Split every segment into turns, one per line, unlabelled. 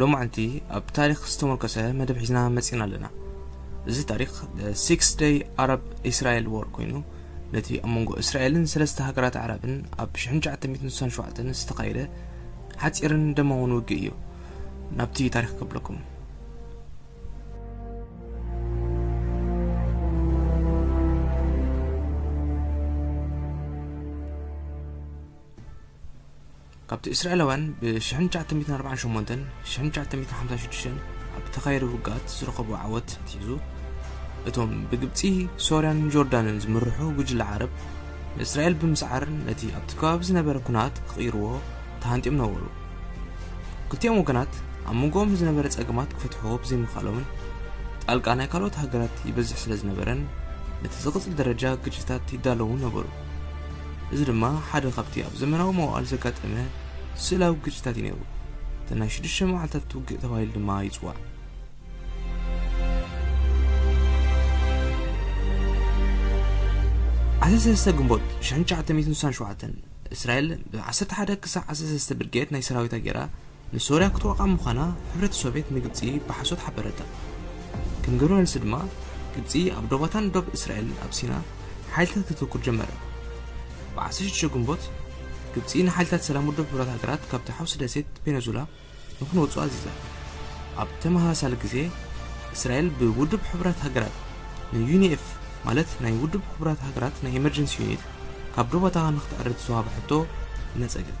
ሎማዕንቲ ኣብ ታሪክ ዝተሞርከሰ መደብ ሒዝና መጺና ኣለና እዚ ታሪክ ሲክስ ደይ ኣረብ እስራኤል ዎር ኮይኑ ነቲ ኣብ መንጎ እስራኤልን ሰለስተ ሃገራት ኣዕራብን ኣብ 1967 ዝተኻየደ ሓፂርን ደማውን ውግእ እዩ ናብቲ ታሪክ ከብለኩም ካብቲ እስራኤላውያን ብ ሽሕን ትሽዓተ ሚእትን ኣርባዓን ሸሞንተን ሽሕን ትሽዓተ ሚእትን ሓምሳን ሽዱሽተን ኣብ እተኻየደ ውግኣት ዝረኸብዎ ዓወት ኣትሒዙ፣ እቶም ብግብጺ፣ ሶርያን ጆርዳንን ዝምርሑ ጉጅለ ዓረብ፣ ንእስራኤል ብምስዓር ነቲ ኣብቲ ከባቢ ዝነበረ ኵናት ክቕይርዎ ተሃንጥዮም ነበሩ። ክልቲኦም ወገናት ኣብ መንጎኦም ንዝነበረ ጸገማት ክፈትሕዎ ብዘይምኽኣሎምን ጣልቃ ናይ ካልኦት ሃገራት ይበዝሕ ስለ ዝነበረን ነቲ ዝቕጽል ደረጃ ግጭታት ይዳለዉ ነበሩ። እዚ ድማ ሓደ ካብቲ ኣብ ዘመናዊ መዋእል ዘጋጠመ ስእላዊ ግጭታት እዩ ነይሩ። እቲ ናይ ሽዱሽተ መዓልታት ውግእ ተባሂሉ ድማ ይጽዋዕ። ዓሰርተ ሰለስተ ግንቦት ሽሕን ትሽዓተ ሚእትን ስሳን ሸውዓተን እስራኤል ብዓሰርተ ሓደ ክሳዕ ዓሰርተ ሰለስተ ብርጌድ ናይ ሰራዊታ ጌራ ንሶርያ ክትወቕዓ ምዃና ሕብረት ሶቬት ንግብጺ ብሓሶት ሓበረታ። ከም ግብረ መልሲ ድማ ግብጺ ኣብ ዶባታን ዶብ እስራኤልን ኣብ ሲና ሓይልታት ከተትኩር ጀመረት። ብ ዓሰርተ ሽዱሽተ ግንቦት ግብጺ ንሓይልታት ሰላም ውድብ ሕቡራት ሃገራት ካብታ ሓውሲ ደሴት ፔነዙላ ንክንወጹ ኣዚዛ። ኣብ ተመሳሳሊ ግዜ እስራኤል ብውድብ ሕቡራት ሃገራት ንዩኒኤፍ ማለት ናይ ውድብ ሕቡራት ሃገራት ናይ ኤመርጀንሲ ዩኒት ካብ ዶባታ ንክትዕሪ ዝተዋህባ ሕቶ ነጸገት።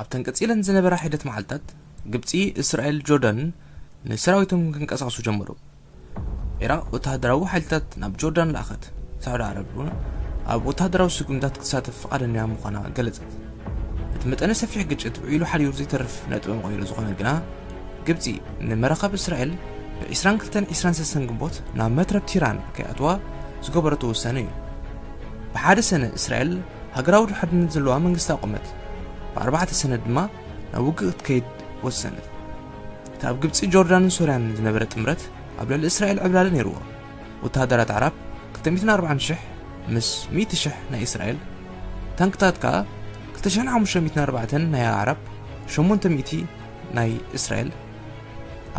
ኣብተን ቀጺለን ዝነበራ ሒደት መዓልትታት ግብጺ፣ እስራኤል፣ ጆርዳንን ንሰራዊቶም ክንቀሳቐሱ ጀመሩ። ኢራቅ ወተሃደራዊ ሓይልታት ናብ ጆርዳን ለኣኸት። ሳዑዲ ዓረብ እውን ኣብ ወተሃደራዊ ስጉምታት ክትሳተፍ ፍቓደኛ ምዃና ገለጸት። እቲ መጠነ ሰፊሕ ግጭት ውዒሉ ሓሪሩ ዘይተርፍ ነጥቢ መቐይሮ ዝኾነ ግና ግብጺ ንመራኸብ እስራኤል ብ22 23 ግንቦት ናብ መትረብ ቲራን ከይኣትዋ ዝገበረቶ ውሳነ እዩ ብሓደ ሰነ እስራኤል ሃገራዊ ድሕርነት ዘለዋ መንግስቲ ኣቖመት። ብኣርባዕተ ሰነ ድማ ናብ ውግእ ክትከይድ ወሰነት። እቲ ኣብ ግብጺ፣ ጆርዳንን ሶርያን ዝነበረ ጥምረት ኣብ ልዕሊ እስራኤል ዕብላሊ ነይርዎ። ወተሃደራት ኣዕራብ ክልተ ሚእትን ኣርባዓን ሽሕ ምስ ሚእቲ ሽሕ ናይ እስራኤል፣ ታንክታት ከኣ ክልተ ሽሕን ሓሙሽተ ሚእትን ኣርባዕተን ናይ ኣዕራብ፣ ሸሞንተ ሚእቲ ናይ እስራኤል፣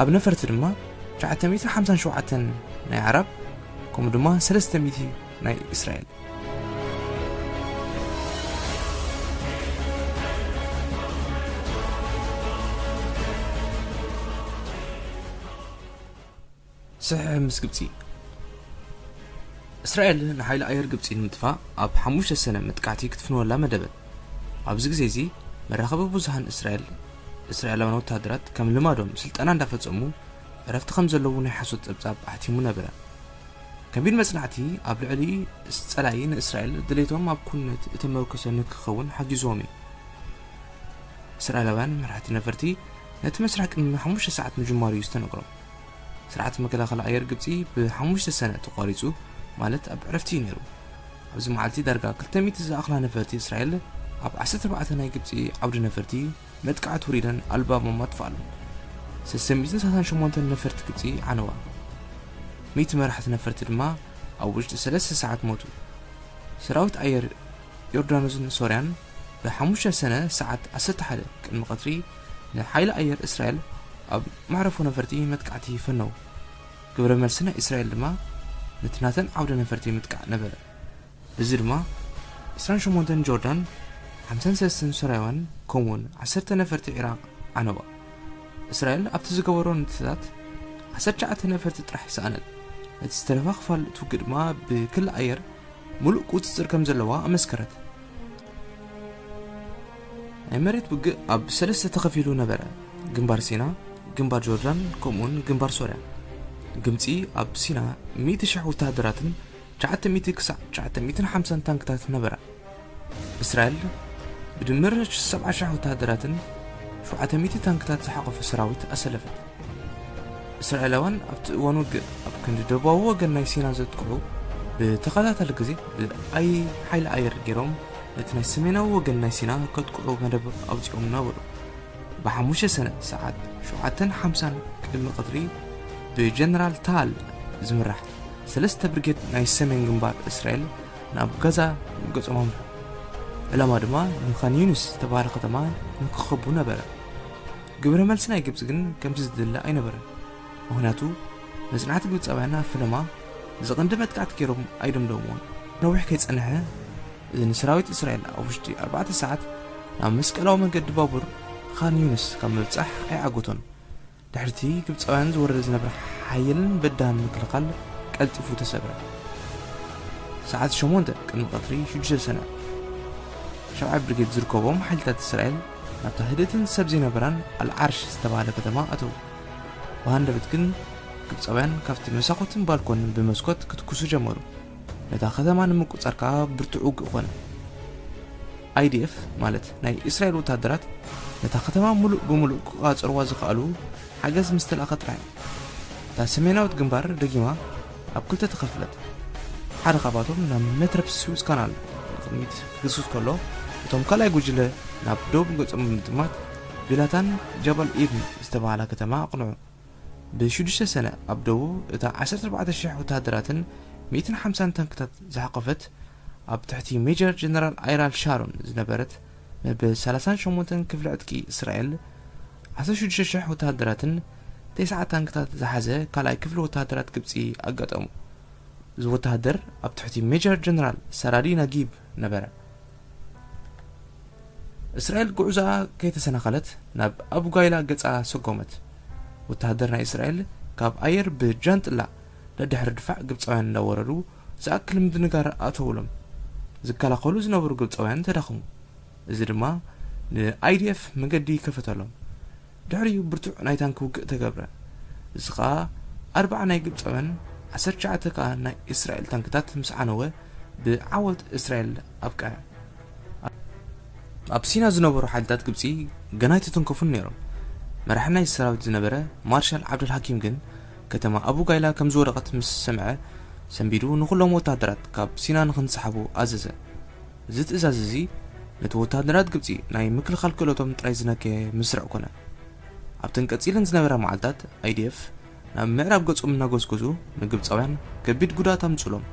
ኣብ ነፈርቲ ድማ ትሽዓተ ሚእትን ሓምሳን ሸውዓተን ናይ ኣዕራብ ከምኡ ድማ ሰለስተ ሚእቲ ናይ እስራኤል። ስሕሕ ምስ ግብፂ እስራኤል ንሓይሊ ኣየር ግብፂ ንምጥፋእ ኣብ ሓሙሽተ ሰነ መጥቃዕቲ ክትፍንወላ መደበት ኣብዚ ግዜ እዚ መራኸቢ ብዙሃን እስራኤል እስራኤላውያን ወታደራት ከም ልማዶም ስልጠና እንዳፈፀሙ ዕረፍቲ ከም ዘለዉ ናይ ሓሶት ፀብፃብ ኣሕቲሙ ነበረ ከቢድ መጽናዕቲ ኣብ ልዕሊ ጸላኢ ንእስራኤል ድሌቶም ኣብ ኩነት እተመርኮሰ ንክኸውን ሓጊዞም እዩ። እስራኤላውያን መራሕቲ ነፈርቲ ነቲ መስርሕ ቅድሚ ሓሙሽተ ሰዓት ምጅማሩ እዩ ዝተነግሮም። ስርዓት መከላኸሊ ኣየር ግብጺ ብሓሙሽተ ሰነ ተቋሪጹ ማለት ኣብ ዕረፍቲ እዩ ነይሩ። ኣብዚ መዓልቲ ዳርጋ 200 ዝኣኽላ ነፈርቲ እስራኤል ኣብ 14 ናይ ግብጺ ዓውዲ ነፈርቲ መጥቃዕቲ ውሪደን ኣልባቦም ኣጥፍኣሎም። ሰለስተ ሚእትን ሰላሳን ሸሞንተን ነፈርቲ ግብጺ ዓነዋ። ሚእቲ መራሕቲ ነፈርቲ ድማ ኣብ ውሽጢ ሰለስተ ሰዓት ሞቱ። ሰራዊት ኣየር ዮርዳኖስን ሶርያን ብሓሙሽተ ሰነ ሰዓት ዓሰርተ ሓደ ቅድሚ ቀትሪ ንሓይሊ ኣየር እስራኤል ኣብ መዕረፎ ነፈርቲ መጥቃዕቲ ፈነዉ። ግብረ መልሲ ናይ እስራኤል ድማ ነቲ ናተን ዓውደ ነፈርቲ ምጥቃዕ ነበረ። እዚ ድማ ዕስራን ሸሞንተን ጆርዳን ሓምሳን ሰለስተን ሶርያውያን ከምኡውን ዓሰርተ ነፈርቲ ዒራቕ ዓነዋ። እስራኤል ኣብቲ ዝገበሮ ንጥፈታት ዓሰርተ ትሽዓተ ነፈርቲ ጥራሕ ሰኣነት፣ ነቲ ዝተረፈ ክፋል እቲ ውግእ ድማ ብክሊ ኣየር ምሉእ ቁጽጽር ከም ዘለዋ ኣመስከረት። ናይ መሬት ውግእ ኣብ ሰለስተ ተኸፊሉ ነበረ፣ ግንባር ሲና፣ ግንባር ጆርዳን ከምኡውን ግንባር ሶርያ። ግብጺ ኣብ ሲና ሚእቲ ሽሕ ወተሃደራትን ትሽዓተ ሚእቲ ክሳዕ ትሽዓተ ሚእትን ሓምሳን ታንክታት ነበራ። እስራኤል ብድምር ሰብዓ ሽሕ ወተሃደራትን ሸውዓተ ሚእቲ ታንክታት ዝሓቖፈ ሰራዊት ኣሰለፈት። እስራኤላውያን ኣብቲ እዋን ውግእ ኣብ ክንዲ ደቡባዊ ወገን ናይ ሲና ዘጥቅዑ ብተኸታታሊ ግዜ ብኣይ ሓይሊ ኣየር ገይሮም ነቲ ናይ ሰሜናዊ ወገን ናይ ሲና ከጥቅዑ መደብ ኣውፂኦም ነበሩ። ብሓሙሽተ ሰነ ሰዓት ሸውዓተን ሓምሳን ቅድሚ ቐትሪ ብጀነራል ታል ዝምራሕ ሰለስተ ብርጌድ ናይ ሰሜን ግንባር እስራኤል ናብ ጋዛ ገጾም ኣምርሑ። ዕላማ ድማ ንኻን ዩኒስ ዝተባህለ ከተማ ንክኸቡ ነበረ ግብረ መልሲ ናይ ግብፂ ግን ከምቲ ዝድለ ኣይነበረን ምክንያቱ መፅናዕቲ ግብፃውያን ኣብ ፈለማ ዝቐንዲ መጥቃዕቲ ገይሮም ኣይደምደምዎን ነዊሕ ከይፀንሐ እዚ ንሰራዊት እስራኤል ኣብ ውሽጢ ኣርባዕተ ሰዓት ናብ መስቀላዊ መንገዲ ባቡር ኻን ዩኒስ ካብ ምብፃሕ ኣይዓገቶን ድሕሪቲ ግብጻውያን ዝወረደ ዝነበረ ሓየልን በዳህን ምክልኻል ቀልጢፉ ተሰብረ። ሰዓት ሸሞንተ ቅድሚ ቀትሪ ሽዱሽተ ሰነ፣ ሻብዓይ ብርጌድ ዝርከቦም ሓይልታት እስራኤል ናብታ ህድእትን ሰብ ዘይነበራን ኣልዓርሽ ዝተባህለ ከተማ ኣተዉ። ብሃንደበት ግን ግብጻውያን ካብቲ መሳኹትን ባልኮንን ብመስኮት ክትኩሱ ጀመሩ። ነታ ከተማ ንምቁጽጻር ከኣ ብርቱዕ ውግእ ኮነ። ኣይዲኤፍ ማለት ናይ እስራኤል ወታደራት ነታ ከተማ ምሉእ ብምሉእ ክቋጸርዋ ዝኸኣሉ ሓገዝ ምስ ተላእከ ጥራሕ እዩ። እታ ሰሜናዊት ግንባር ደጊማ ኣብ ክልተ ተኸፍለት። ሓደ ካብኣቶም ናብ መትረብ ስዊዝ ካናል ንቕድሚት ክግስግስ ከሎ፣ እቶም ካልኣይ ጉጅለ ናብ ደቡብ ገጾም ብምጥማት ቪላታን ጃባል ኢብን ዝተባህላ ከተማ ኣቕንዑ። ብሽዱሽተ ሰነ ኣብ ደቡብ እታ ዓሰርተ ኣርባዕተ ሽሕ ወተሃደራትን ሚእትን ሓምሳን ታንክታት ዝሓቖፈት ኣብ ትሕቲ ሜጀር ጀነራል ኣይራል ሻሮን ዝነበረት መበል ሰላሳን ሸሞንተን ክፍሊ ዕጥቂ እስራኤል፣ ዓሰርተ ሽዱሽተ ሽሕ ወተሃደራትን ተስዓ ታንክታት ዝሓዘ ካልኣይ ክፍሊ ወተሃደራት ግብጺ ኣጋጠሙ። እዚ ወተሃደር ኣብ ትሕቲ ሜጀር ጀነራል ሰራዲ ናጊብ ነበረ። እስራኤል ጉዕዞኣ ከይተሰናኸለት ናብ ኣቡጋይላ ገጻ ሰጎመት። ወተሃደር ናይ እስራኤል ካብ ኣየር ብጃንጥላ ደድሕሪ ድፋዕ ግብጻውያን እንዳወረዱ ዝኣክል ምድንጋር ኣእተዉሎም። ዝከላኸሉ ዝነበሩ ግብጻውያን ተዳኽሙ። እዚ ድማ ንIDF መገዲ ከፈተሎም። ድሕሪኡ ብርቱዕ ናይ ታንኪ ውግእ ተገብረ። እዚ ከኣ ኣርብዓ ናይ ግብጻውያን ዓሰርተ ትሽዓተ ከኣ ናይ እስራኤል ታንክታት ምስ ዓነወ ብዓወት እስራኤል ኣብቅዐ። ኣብ ሲና ዝነበሩ ሓይልታት ግብጺ ገና ኣይተተንከፉን ነይሮም። መራሒ ናይዚ ሰራዊት ዝነበረ ማርሻል ዓብደልሃኪም ግን፣ ከተማ ኣቡ ጋይላ ከም ዝወደቐት ምስ ሰምዐ፣ ሰንቢዱ ንዅሎም ወተሃደራት ካብ ሲና ንኽንስሓቡ ኣዘዘ። እዚ ትእዛዝ እዚ ነቲ ወተሃደራት ግብጺ ናይ ምክልኻል ክእለቶም ጥራይ ዝነከየ መስርዕ ኰነ። ኣብተን ቀጺለን ዝነበራ መዓልታት፣ IDF ናብ ምዕራብ ገጾም እናጐስጐሱ ንግብጻውያን ከቢድ ጕድኣት ኣምጽኡሎም።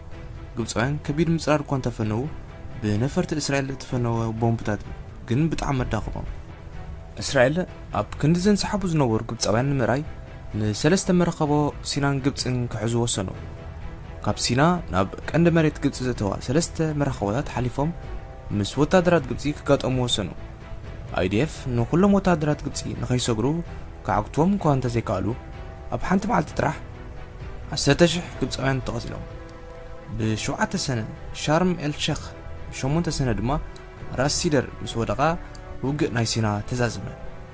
ግብጻውያን ከቢድ ምጽራር እኳ እንተ ፈነዉ፣ ብነፈርቲ እስራኤል እተፈነወ ቦምብታት ግን ብጣዕሚ ኣዳኸሞም። እስራኤል ኣብ ክንዲ ዘንስሓቡ ዝነበሩ ግብጻውያን ንምእራይ፣ ንሰለስተ መራኸቦ ሲናን ግብጽን ክሕዙ ወሰኑ። ካብ ሲና ናብ ቀንዲ መሬት ግብጺ ዘእተዋ ሰለስተ መራኸቦታት ሓሊፎም ምስ ወተሃደራት ግብጺ ክጋጠሙ ወሰኑ። IDF ንኹሎም ወተሃደራት ግብጺ ንኸይሰግሩ ክዓግቱዎም እኳ እንተ ዘይከኣሉ፣ ኣብ ሓንቲ መዓልቲ ጥራሕ ዓሰርተ ሽሕ ግብጻውያን ተቐቲሎም። ብ ሸውዓተ ሰነ ሻርም ኤል ሸኽ፣ ብ ሸሞንተ ሰነ ድማ ራስ ሲደር ምስ ወደቓ ውግእ ናይ ሲና ተዛዘመ።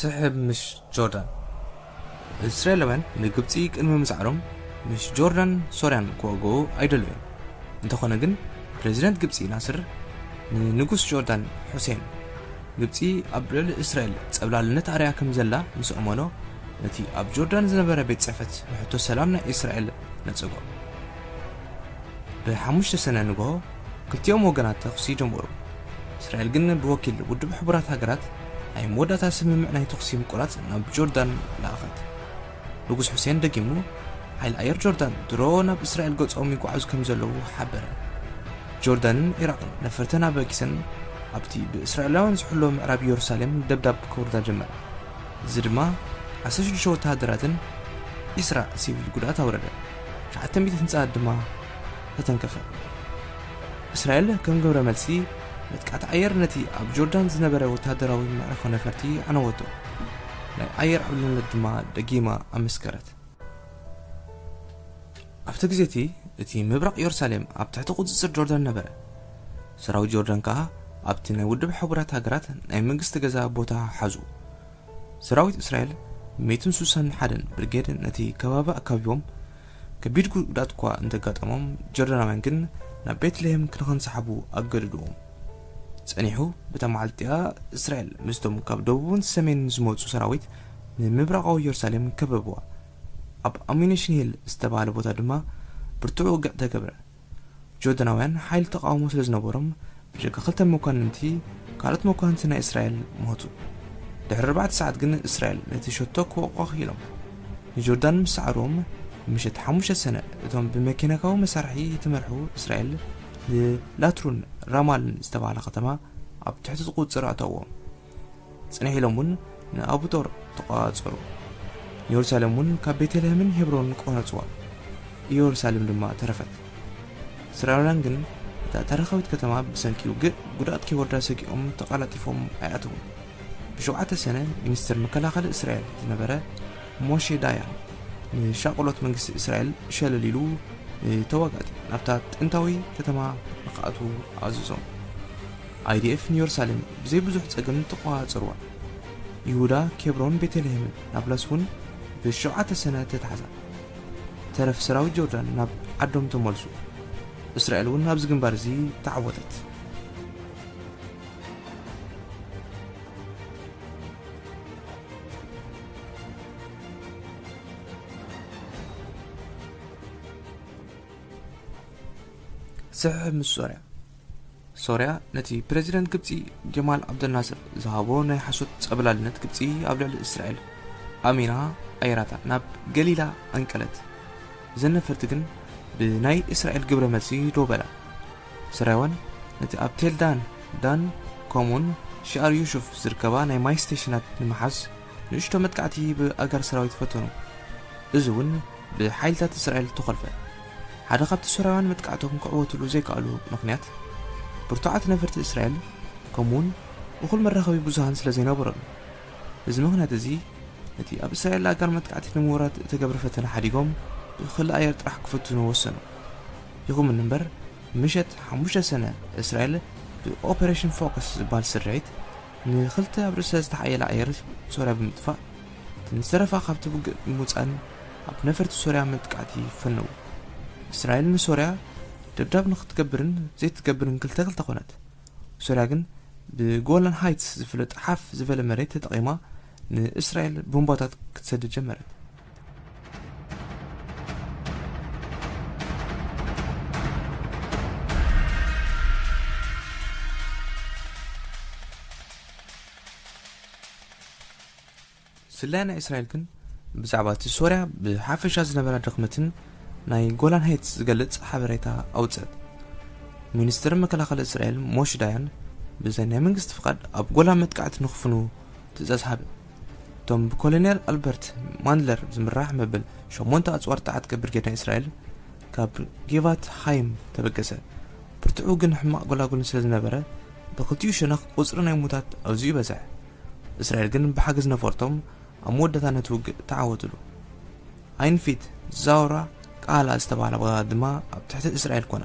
ስሕብ ምስ ጆርዳን። እስራኤላውያን ንግብጺ ቅድሚ ምስዓሮም ምስ ጆርዳን ሶርያን ክዋግኡ ኣይደለዩን። እንተኾነ ግን ፕረዚደንት ግብጺ ናስር ንንጉስ ጆርዳን ሑሴን ግብጺ ኣብ ልዕሊ እስራኤል ጸብላልነት ኣርያ ከም ዘላ ምስ ኣመኖ ነቲ ኣብ ጆርዳን ዝነበረ ቤት ጽሕፈት ንሕቶ ሰላም ናይ እስራኤል ነጸጎ። ብሓሙሽተ ሰነ ንግሆ ክልቲኦም ወገናት ተኹሲ ጀመሩ። እስራኤል ግን ብወኪል ውድብ ሕቡራት ሃገራት ናይ መወዳእታ ስምምዕ ናይ ተኹሲ ምቁራጽ ናብ ጆርዳን ለኣኸት። ንጉስ ሑሴን ደጊሙ ሓይሊ ኣየር ጆርዳን ድሮ ናብ እስራኤል ገጾም ይጓዓዙ ከም ዘለዉ ሓበረ። ጆርዳንን ዒራቕን ነፈርተን ኣበጊሰን ኣብቲ ብእስራኤላውያን ዝሕሎ ምዕራብ ኢየሩሳሌም ደብዳብ ከውርዳ ጀመራ። እዚ ድማ ዓሰርተ ሽዱሽተ ወተሃደራትን ዒስራ ሲቪል ጉድኣት ኣውረደ። ሸውዓተ ሚእቲ ህንጻ ድማ ተተንከፈ። እስራኤል ከም ግብረ መልሲ መጥቃዕቲ ኣየር ነቲ ኣብ ጆርዳን ዝነበረ ወተሃደራዊ መዕርፎ ነፈርቲ ኣዕነወቶ፣ ናይ ኣየር ዕብልነት ድማ ደጊማ ኣመስከረት። ኣብቲ ግዜ እቲ፣ እቲ ምብራቕ ዮርሳሌም ኣብ ትሕቲ ቁጽጽር ጆርዳን ነበረ፣ ሰራዊት ጆርዳን ከኣ ኣብቲ ናይ ውድብ ሕቡራት ሃገራት ናይ መንግስቲ ገዛ ቦታ ሓዙ። ሰራዊት እስራኤል ሚእትን ሱሳን ሓደን ብርጌድ ነቲ ከባቢ ኣካቢቦም፣ ከቢድ ጉድኣት'ኳ እንተጋጠሞም፣ ጆርዳናውያን ግን ናብ ቤትልሄም ንኽንሳሓቡ ኣገደዱዎም። ጸኒሑ፣ በታ መዓልቲ'ያ እስራኤል ምስቶም ካብ ደቡብን ሰሜንን ዝመጹ ሰራዊት ንምብራቓዊ የሩሳሌም ከበቡዋ። ኣብ ኣሙኒሽን ሂል ዝተባህለ ቦታ ድማ ብርቱዕ ውግእ ተገብረ። ጆርዳናውያን ሓይሊ ተቓውሞ ስለ ዝነበሮም ብጀካ ክልተ መኳንንቲ ካልኦት መኳንንቲ ናይ እስራኤል ሞቱ። ድሕሪ ኣርባዕተ ሰዓት ግን እስራኤል ነቲ ሸቶ ክወቕቑ ክኢሎም። ንጆርዳን ምስ ሰዓርዎም ምሸት ሓሙሽተ ሰነ እቶም ብመኬናካዊ መሳርሒ እተመርሑ እስራኤል ንላትሩን ራማልን ዝተባህላ ከተማ ኣብ ትሕቲ ቁጽር ኣተዎም። ጽንሕ ኢሎም እውን ንኣቡጦር ተቖጻጸሩ፣ ንየሩሳሌም እውን ካብ ቤተልሔምን ሄብሮንን ቈረጽዋ፣ ኢየሩሳሌም ድማ ተረፈት። እስራኤላውያን ግን እታ ታሪኻዊት ከተማ ብሰንኪ ውግእ ጉድኣት ከይወርዳ ሰጊኦም ተቐላጢፎም ኣይኣተዉን። ብሸውዓተ ሰነ ሚኒስተር መከላኸሊ እስራኤል ዝነበረ ሞሼ ዳያን ንሻቕሎት መንግስቲ እስራኤል ሸለል ኢሉ ንተዋጋእቲ ናብታ ጥንታዊ ከተማ ንኽኣትዉ ኣዘዞም። IDF ንዮርሳሌም ብዘይ ብዙሕ ጸገም ተቖጻጸርዋ። ይሁዳ፣ ኬብሮን፣ ቤተልሄምን ናብላስ እውን ብ ሸውዓተ ሰነ ተታሕዛ። ተረፍ ሰራዊት ጆርዳን ናብ ዓዶም ተመልሱ። እስራኤል እውን ኣብዚ ግንባር እዚ ተዓወተት። ስሕሕብ ምስ ሶርያ። ሶርያ ነቲ ፕረዚደንት ግብጺ ጀማል ዓብደልናስር ዝሃቦ ናይ ሓሶት ጸብላልነት ግብጺ ኣብ ልዕሊ እስራኤል ኣሚና ኣየራታ ናብ ገሊላ ኣንቀለት እዘን ነፈርቲ ግን ብናይ እስራኤል ግብረ መልሲ ዶ በላ ስራይዋን ነቲ ኣብ ቴልዳን ዳን ከምኡውን ሽኣር ዩሹፍ ዝርከባ ናይ ማይ ስቴሽናት ንምሓዝ ንእሽቶ መጥቃዕቲ ብኣጋር ሰራዊት ፈተኑ እዚ እውን ብሓይልታት እስራኤል ተኾልፈ ሓደ ካብቲ ሶርያውያን መጥቃዕቶም ክዕወትሉ ዘይከኣሉ ምኽንያት፣ ብርቱዓት ነፈርቲ እስራኤል ከምኡ'ውን እኹል መራኸቢ ብዙሃን ስለ ዘይነበሮም እዩ። በዚ ምኽንያት እዚ፣ ነቲ ኣብ እስራኤል ኣጋር መጥቃዕቲ ንምውራድ እተገብረ ፈተነ ሓዲጎም ብክሊ ኣየር ጥራሕ ክፍትኑ ወሰኑ። ይኹምን እምበር፣ ምሸት ሓሙሽተ ሰነ እስራኤል ብኦፐረሽን ፎከስ ዝበሃል ስርሒት፣ ንክልተ ኣብ ርእሰ ዝተሓየለ ኣየር ሶርያ ብምጥፋእ እቲ ምዝተረፋ ካብቲ ውግእ ብምውጻእን ኣብ ነፈርቲ ሶርያ መጥቃዕቲ ፈነዉ። እስራኤል ንሶርያ ደብዳብ ንክትገብርን ዘይትገብርን ክልተ ክልተ ኮነት። ሶርያ ግን ብጎላን ሃይትስ ዝፍለጥ ሓፍ ዝበለ መሬት ተጠቒማ ንእስራኤል ቦምባታት ክትሰድድ ጀመረት። ስለያ ናይ እስራኤል ግን ብዛዕባ እቲ ሶርያ ብሓፈሻ ዝነበራ ድኽመትን ናይ ጎላን ሄትስ ዝገልጽ ሓበሬታ ኣውፅአት ሚኒስትር መከላኸሊ እስራኤል ሞሽ ዳያን ብዘይ ናይ መንግስቲ ፍቓድ ኣብ ጎላን መጥቃዕቲ ንክፍኑ ትእዛዝ ሃበ እቶም ብኮሎኔል ኣልበርት ማንድለር ዝምራሕ መበል ሸሞንተ ኣጽዋር ተዓጥቀ ብርጌድ ናይ እስራኤል ካብ ጌቫት ሃይም ተበገሰ። ብርትዑ ግን ሕማቕ ጎላጉልን ስለ ዝነበረ ብክልቲኡ ሸነኽ ቁጽሪ ናይ ሙታት ኣዝዩ ይበዝሕ። እስራኤል ግን ብሓገዝ ነፈርቶም ኣብ መወዳእታ ነቲ ውግእ ተዓወትሉ። ኣይንፊት ዛውራ ቃላ ዝተባህላ ቦታታት ድማ ኣብ ትሕቲ እስራኤል ኮና።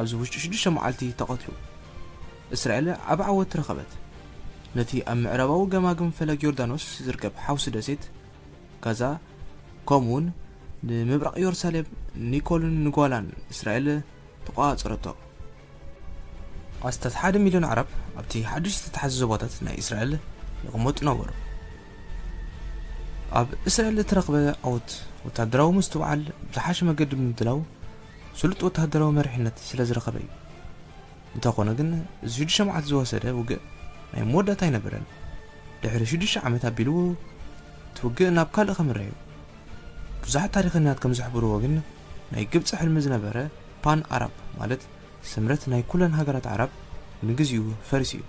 ኣብዚ ውሽጢ ሽዱሽተ መዓልቲ ተቐትሉ። እስራኤል ዓቢ ዓወት ረኸበት። ነቲ ኣብ ምዕራባዊ ገማግም ፈለግ ዮርዳኖስ ዝርከብ ሓውሲ ደሴት ጋዛ ከምኡውን ንምብራቕ ዮርሳሌም ኒኮልን ንጓላን እስራኤል ተቋጻጸረቶ። ኣስታት ሓደ ሚልዮን ኣዕራብ ኣብቲ ሓድሽ ዝተታሕዘ ዞባታት ናይ እስራኤል ይቕመጡ ነበሩ። ኣብ እስራኤል እተረኽበ ዓወት ወተሃደራዊ ምስትውዓል ብዝሓሸ መገዲ ብምድላው ስሉጥ ወተሃደራዊ መሪሕነት ስለ ዝረኸበ እዩ። እንተ ኾነ ግን እዚ ሽዱሽተ መዓልቲ ዝወሰደ ውግእ ናይ መወዳእታ ኣይነበረን። ድሕሪ ሽዱሽተ ዓመት ኣቢሉ እቲ ውግእ ናብ ካልእ ከምረ እዩ። ብዙሓት ታሪኸኛት ከም ዝሕብርዎ ግን ናይ ግብጺ ሕልሚ ዝነበረ ፓን ኣራብ ማለት ስምረት ናይ ኩለን ሃገራት ዓራብ ንግዚኡ ፈሪሱ እዩ።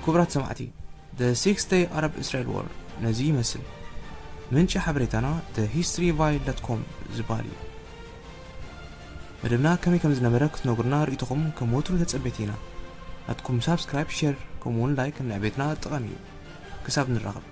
ክቡራት ሰማዕቲ The Six Day Arab Israel War ነዚ ይመስል ምንጪ ሓበሬታና The History Vile ኮም ዝበሃል እዩ መደብና ከመይ ከም ዝነበረ ክትነግሩና ርእይቶኹም ከም ወትሩ ተጸቤቲ ኢና ናትኩም ሳብስክራይብ ሼር ከምኡውን ላይክ ንዕቤትና ጠቓሚ እዩ ክሳብ ንራኸብ